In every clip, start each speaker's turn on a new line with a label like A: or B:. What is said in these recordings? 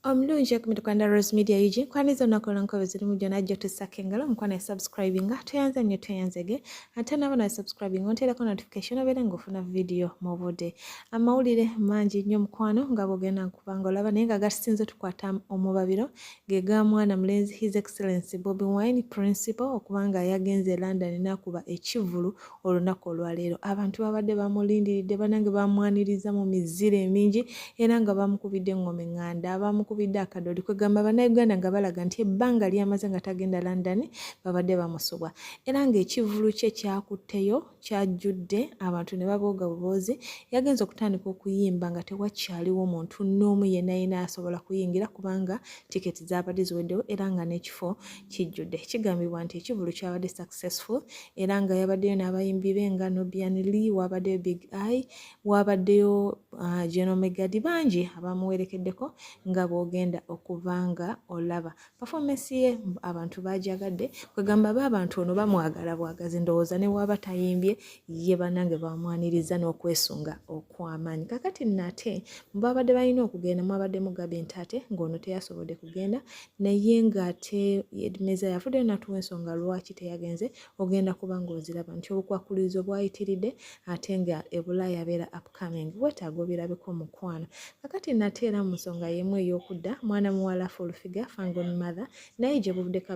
A: omulungi okumita kwanda rose media ug nkwaniriza olunaku olwonka bwezirimu gyona jjo tussako engalo omukwano yasubscribinga tweyanze nnyo tweyanzege ate naabo nasubscribinga onteerako notification obeere ngaofuna vidiyo mu budde amawulire mangi nnyo mukwano nga bwogenda nkubanga olaba naye nga gatusinza otukwata omubabiro ge ga mwana mulenzi His Excellency Bobi Wine Principal okuba nga yagenze e London n'akuba ekivvulu olunaku olwaleero. Abantu babadde bamulindiridde banange bamwaniriza mu mizira emingi era nga bamukubidde eng'oma eŋŋanda, bamukubidde akadoodi kwegamba Bannayuganda nga balaga nti ebbanga lyamaze nga tagenda London babadde bamusubwa era ng'ekivvulu kye kyakutteyo kyajjudde abantu ne babooga buboozi yagenze okutandika okuyimba nga tewakyaliwo muntu n'omu yenna yenna asobola kuyingira kubanga tiketi zaabadde ziweddewo era nga n'ekifo kijjudde kigambibwa nti ekivulu kyabadde successful era nga yabaddeyo n'abayimbi be nga nobian lee waabaddeyo big i waabaddeyo uh, genomegadi bangi abamuwerekeddeko nga bw'ogenda okuba nga olaba pafomesi ye abantu bajagadde kwegamba ba abantu ono bamwagala bwagazi ndowooza newaba tayimbye ye banange bamwaniriza n'okwesunga okwamaanyi kakati nate mubabadde balina okugenda mwabadde mugabi nti ate ng'ono teyasobodde kugenda naye ng'ate edmeza yafuddeyo natuwa ensonga lwaki teyagenze ogenda kuba ng'oziraba nti obukwakkulizo bwayitiridde ate nga ebulaayabeera apo upcoming wetaaga obirabeko mukwano kakati nate era mu nsonga yemu ey'okudda mwana muwala fulfiga fangon mother naye gye buvuddeko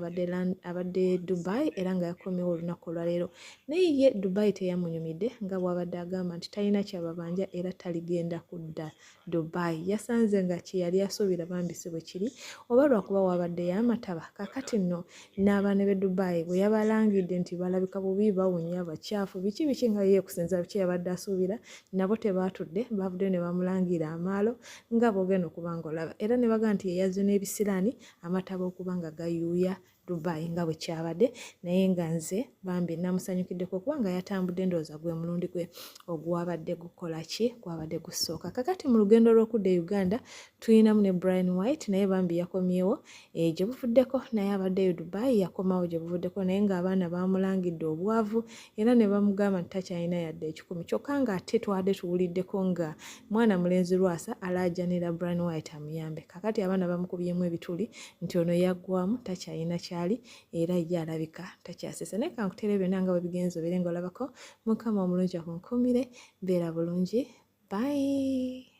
A: abadde dubai era nga yakomyewo olunaku olwaleero naye ye dubai teyamunyumidde nga bwabadde agamba nti talina kyababanja era taligenda kudda dubai yasanze nga kyeyali asuubira bambisi bwe kiri oba lwakuba wabadde yamataba kakati nno n'abaana b'e dubai bwe yabalangidde nti balabika bubi bawunya bakyafu biki biki nga ye kusinza biki yabadde asuubira nabo tebaatudde baavuddeyo ne bamulangira amaalo nga boogenda okuba nga olaba era ne baga nti yeyazze n'ebisiraani amataba okuba nga gayuuya dubai nga bwe kyabadde naye nga nze bambi namusanyukiddeko kubanga yatambudde ndowooza gwe mulundi gwe ogwabadde gukola ki gwabadde gusooka kakati mu lugendo lw'okudda e uganda tulinamu ne brian white naye bambi yakomyewo e, gye buvuddeko naye abaddeyo dubai yakomawo gye buvuddeko naye ng'abaana baamulangidde obwavu era ne bamugamba nti takyalina yadde ekikumi kyokka ng'ate twade tuwuliddeko nga mwana mulenzi lwasa alaajanira brian white amuyambe kakati abaana bamukubyemu ebituli nti ono yaggwamu takyalina kyali era ye alabika takyasesa naye kankuteere byonna nga bwebigenza obeere nga olabako mukama omulungi akunkumire beera bulungi bayi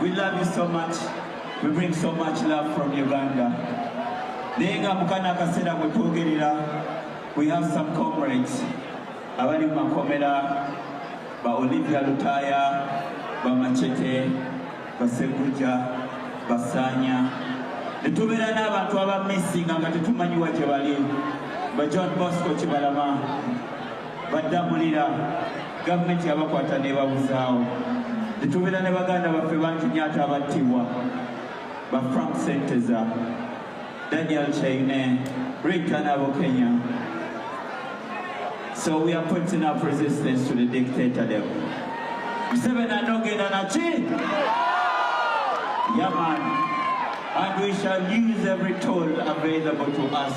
B: We love you so much. We bring so much love from Uganda. Naye nga mukana akaseera mwe twogerera, we have some comrades abali mu makomera ba Olivia Lutaya, ba Machete, ba Seguja, ba Sanya. Ne tubeera n'abantu aba missinga nga tetumanyiwa gye bali. Ba John Bosco Kibalama. baddamulira gavumenti yabakwata nebabuzaawo netubeera ne baganda baffe bangi nyo ate abattibwa ba frank senteza daniel chaine ritanabo kenya so we are putting up resistance to the dictator dem museveni anogenda naki yaman and we shall use every tool available to us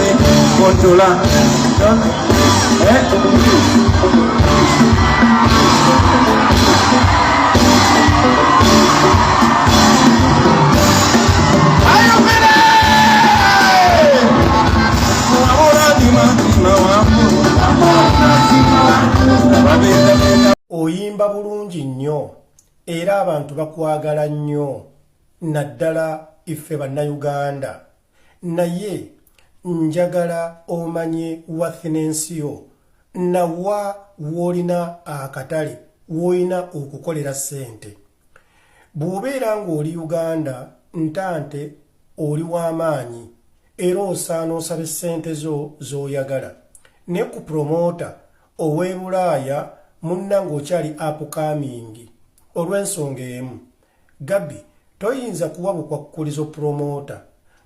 C: Controla.
D: Eh? oyimba bulungi nnyo era abantu bakwagala nnyo naddala iffe bannayuganda naye njagala omanye wathinensi yo nawa woolina akatale woolina okukolera ssente bw'obeera ng'oli uganda ntante oli w'amaanyi era osaana osaba essente zo z'oyagala ne ku promoota ow'ebulaaya munna ng'okyali apukamingi olw'ensonga emu Gabi toyinza kuwa bukwakkulizo promoota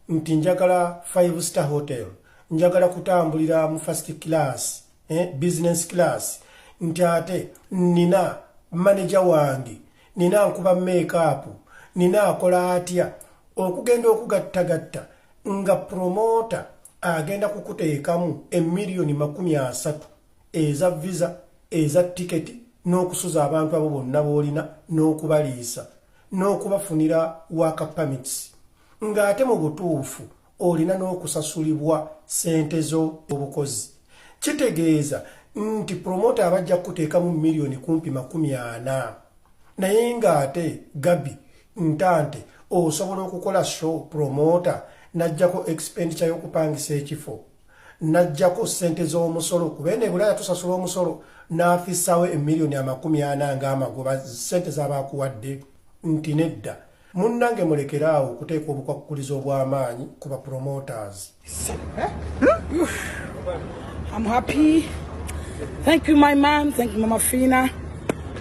D: nti njagala five star hotel njagala kutambulira mu first class eh, business class nti ate nina maneja wange nina nkuba makeup nina akola atya okugenda okugattagatta nga promoota agenda kukuteekamu emiliyoni makumi asatu eza visa eza tiketi n'okusuza abantu abo bonna b'olina n'okubaliisa n'okubafunira waaka permits ng'ate mu butuufu olina n'okusasulibwa ssente zo obukozi kitegeeza nti promota abajja kukuteekamu miliyoni kumpi makumi ana naye ng'ate gabi ntante osobola okukola show promota n'ajjako expenditure y'okupangisa ekifo najjako sente z'omusolo kuba eno ebulaya tusasula omusolo n'afissawo emiliyoni amakumi ana ng'amagoba sente z'abaakuwadde nti nedda munnange mulekere awo okuteeka obukwakkulizo obw'amaanyi ku bapromoters I'm
E: happy. Thank you, my mom. Thank you, Mama Fina.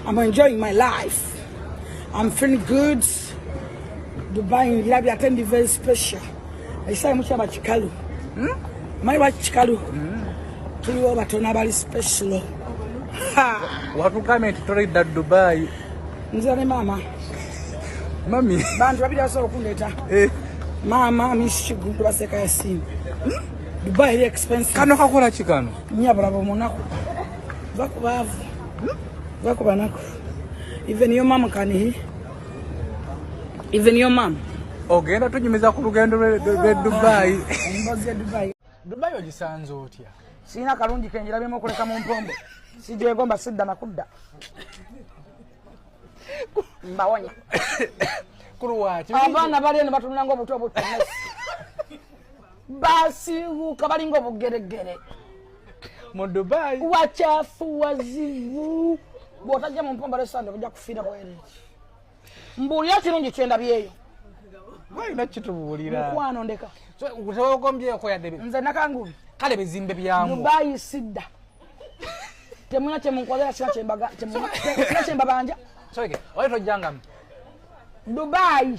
E: I'm enjoying my life. I'm feeling good. Dubai, I'll be attending very special. Ekisaayi mukyaba kikalu. Hmm? Mayi wa kikalu. Hmm. Tuliwo batono abali special.
F: Watugamye nti tulidda Dubai. Nze ne maama. Mami. Bantu babiri basobola
E: okundeeta. Eh. Maama Miss Kiggundu baseka Yasin. Hmm? Dubai eri expensive. Kano kakola ki kano?
F: Nyabula bomunaku.
E: Vakubaavu. Vakubanaku. Even your mom can hear. Even your mom. Ogenda tunyumiza
F: ku lugendo lwe Dubai.
E: Dubai ogisanze
F: otya? Sina kalungi
E: kenjira bimo kuleka mu mpombo. Sijegomba sidda na kudda. Mbawonya.
F: Kuruwa. Abana bali
E: eno batunanga obuto obuto. basiiwuuka balinga obugeregere
F: mu dubai wakyafu
E: wazibu bwotajja mu mpomba lesande ojja kufiira bwere mbuulira kirungi kyendabyeyo walina
F: kitubuulira mukwano ndeka
E: tewakombyeko
F: yadde nze nakangubi
E: kale bizimbe byamu
F: dubai sidda
E: temuna kyemunkolera kina kyembabanja oyo
F: tojjangamu
E: dubai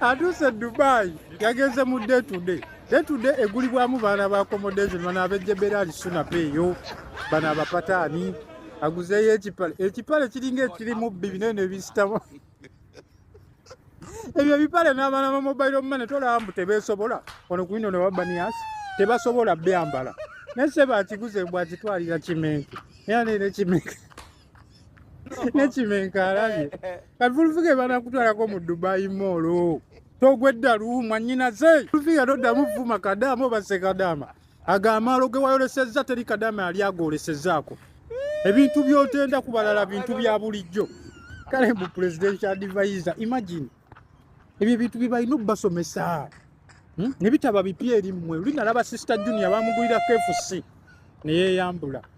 G: atuuse dubai yagenze mu day to day day to day egulibwamu baana ba accommodation bana abejebera ali suna peeyo bana abapataani aguzeeyo ekipale ekipale kiringa ekirimu bbi binene ebisitamu ebyo ebipale n'abaana ba mobile money tolaba mbu tebeesobola ono ku ino ne wabanias tebasobola byambala naye se bakiguze mbwakitwalira kimenke era neera ekimenke nekimenka alabye kati fulufiga ebanakutwalako mu dubai moolo togweddalu mwanyinaze fulufiga toddamu vuma kadaama obase kadaama ago amaalo ge wayolesezza teri kadaama yali agolesezaako ebintu byotenda ku balala bintu bya bulijjo kale mu presidential advisor imagine ebyo ebintu byebalina okubasomesa hmm? nebitaba bipya eri mmwe olinalaba sister junior bamugulira kfc neyeyambula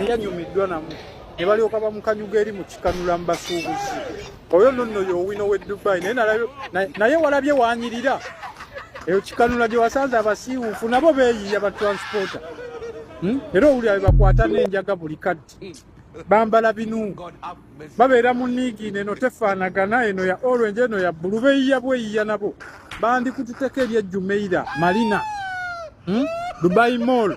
G: eyanyumiddwa namu ne balyoka bamukanyuga eri mu kikanula mu basuubuzi oyo nno nno yowino w'e dubai naye walabye wanyirira eyo kikanula gye wasanze abasiiwuufu nabo beeyiiya ba transporta hmm? era owulira be bakwata n'enjaga buli kaddi bambala binu babeera mu niigiina eno tefaanagana eno ya olwenje eno ya bbulu beeyiiya bweyiiya nabo bandikututeko eryejjumeira malina hmm? dubai mall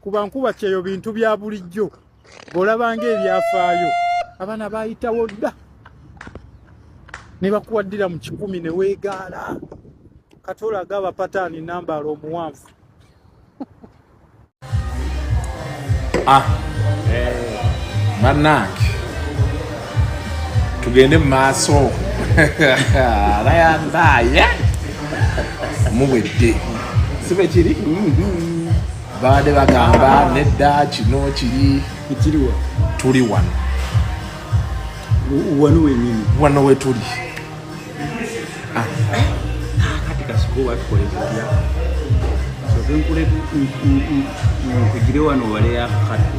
G: kuba nkuba kyeyo bintu bya bulijjo bw'olabanga ebyafaayo abaana baayitawo dda ne bakuwaddira mu kikumi ne weegaala kati olaga abapataani nambaala omuwanvu ah,
C: eh, bannange tugende mu maaso alayandaaye muwedde sibe kiri mm-hmm. baade bagamba nedda kino kiri ekiriwa
H: tuli wano
C: wano wenyini wano wetuli
H: ah. kati kasiko watukolezea soze nkule nkugire wano waleya kati